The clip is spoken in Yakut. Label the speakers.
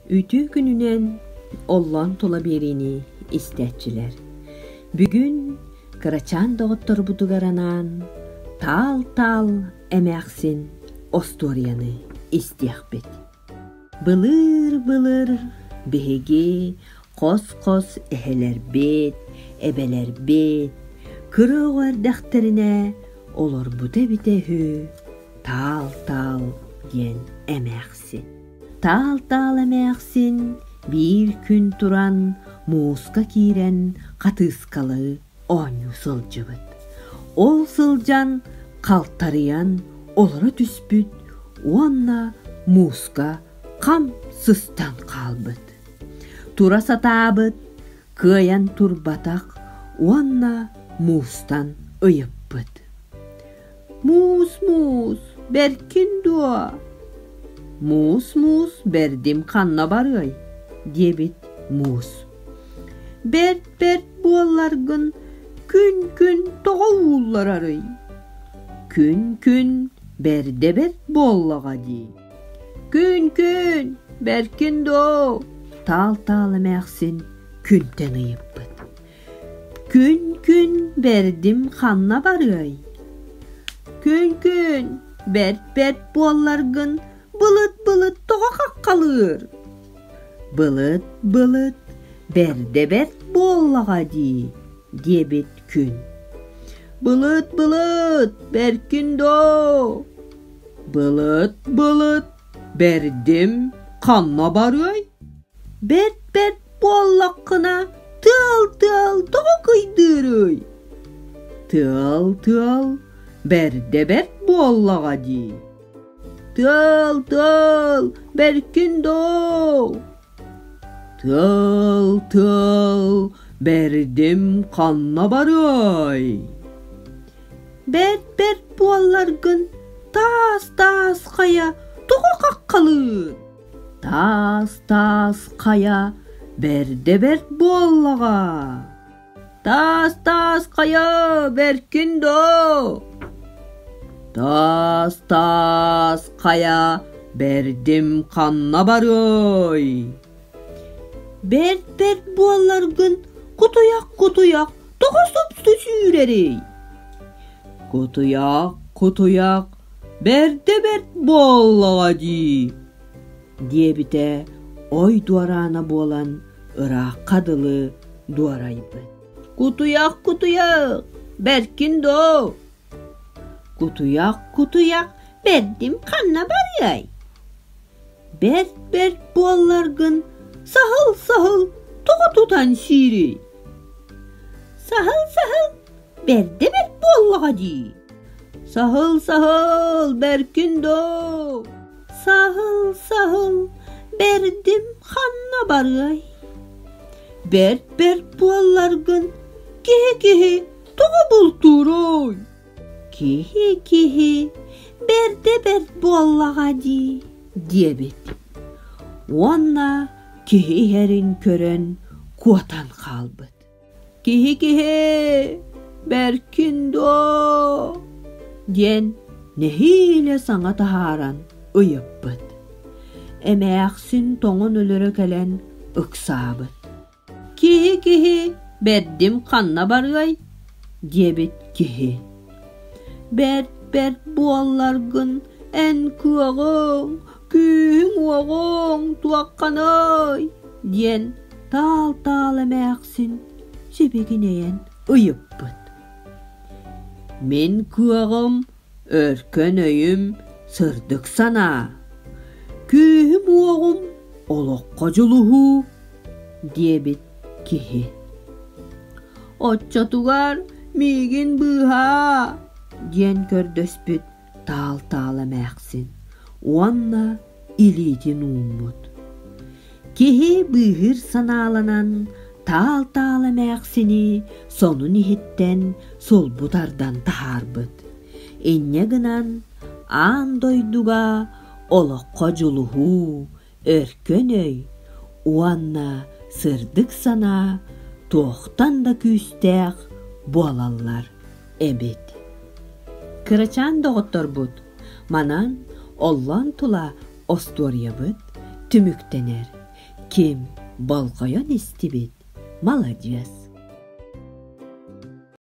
Speaker 1: Үтүө күнүнэн оллоон тула биэриини истээччилэр бүгүн кырачаан доҕотторбутугар анаан Таал-таал эмээхсин остуоруйаны истиэхпит. Былыр-былыр биһиги хос-хос эһэлэрбит, эбэлэрбит кыра оҕо эрдэхтэринэ олорбута эбитэ үһү Таал-таал диэн эмээхсин. Таал-таал эмээхсин биир күн туран мууска киирэн хатыыскалары оонньуу сылдьыбыт. Ол сылдьан халтарыйан олоро түспүт уонна мууска хам сыстан хаалбыт. Тура сатаабыт, кыайан турбатах уонна муустан ыйыппыт. Муус-муус, бэркин дуо? Муус-муус, бэрдим ханна барыай? диэбит муус. Бэрт-бэрт буолларгын күн-күн тоҕо ууллар арый? Күн-күн бэрдэ-бэрт буоллаҕа дии. Күн-күн, бэркин доо, таал-таал эмээхсин күнтэн ыйыппыт. Күн-күн бэрдим ханна барыай? Күн-күн бэрт-бэрт буолларгын былыт-былыт тоҕо хаххалыыр? Былыт-былыт бэрдэ-бэрт буоллаҕа дии диэбит күн. Былыт-былыт бэркин доо? Былыт-былыт бэрдим ханна барыай? Бэрт-бэрт Буоллаххына тыал-тыал тоҕо кыйдыырый? Тыал-тыал бэрдэ бэрт буоллаҕа дии. Тыал-тыал бэркин доо. Тыал-тыал бэрдим ханна барыай? Бэрт-бэрт буолларгын таас-таас хайа тоҕо хаххалыыр? Таас таас хайа бэрдэ бэрт буоллаҕа. Таас таас хайа бэркин доо. Таас таас хайа бэрдим ханна барыай. Бэрт бэрт буолларгын кутуйах кутуйах тоҕо супсу сүүрэрий? Кутуйах кутуйах бэрдэ бэрт буоллаҕа дии диэбитэ ой дуораана буолан ыраахха дылы дуорайбыт кутуйах кутуйах бэркин доо кутуйах кутуйах бэрдим ханна барыай бэрт бэрт буолларгын саһыл саһыл тоҕо тутан сиирий саһыл саһыл бэрдэ бэрт буоллаҕа дии саһыл саһыл бэркин доо саһыл саһыл бэрдим ханна барыай бэрт бэрт буолларгын киһи киһи тоҕо бултууруй киһи киһи бэрдэ бэрт буоллаҕа дии диэбит уонна киһи иһэрин көрөн куотан хаалбыт Киһи-киһи, бэркин дуо? диэн нэһиилэ саҥа таһааран ыйыппыт. Эмээхсин тоҥон өлөрө кэлэн ыксаабыт. Киһи-киһи бэрдим ханна барыай? диэбит киһи. Бэрт бэрт буолларгын эн кыаҕыҥ күүһүҥ уоҕуҥ туохханый диэн таал-таал эмээхсин сибигинэйэн ыйыппыт мин кыаҕым өркөн өйүм сырдык санаа күүһүм уоҕум олоххо дьулуһуу диэбит киһи оччотугар миигин быыһаа диэн көрдөспүт таал-таала эмээхсин уонна илиитин ууммут. Киһи быыһыыр санааланан таал-таал эмээхсини сонун иһиттэн сулбу тардан таһаарбыт. Инньэ гынан аан дойдуга олоххо дьулуһуу, өркөн өй уонна сырдык санаа туохтан да күүстээх буолаллар эбит кырачаан доҕотторбут манан оллон тула остуоруйабыт түмүктэнэр ким болҕойон истибит маладьыас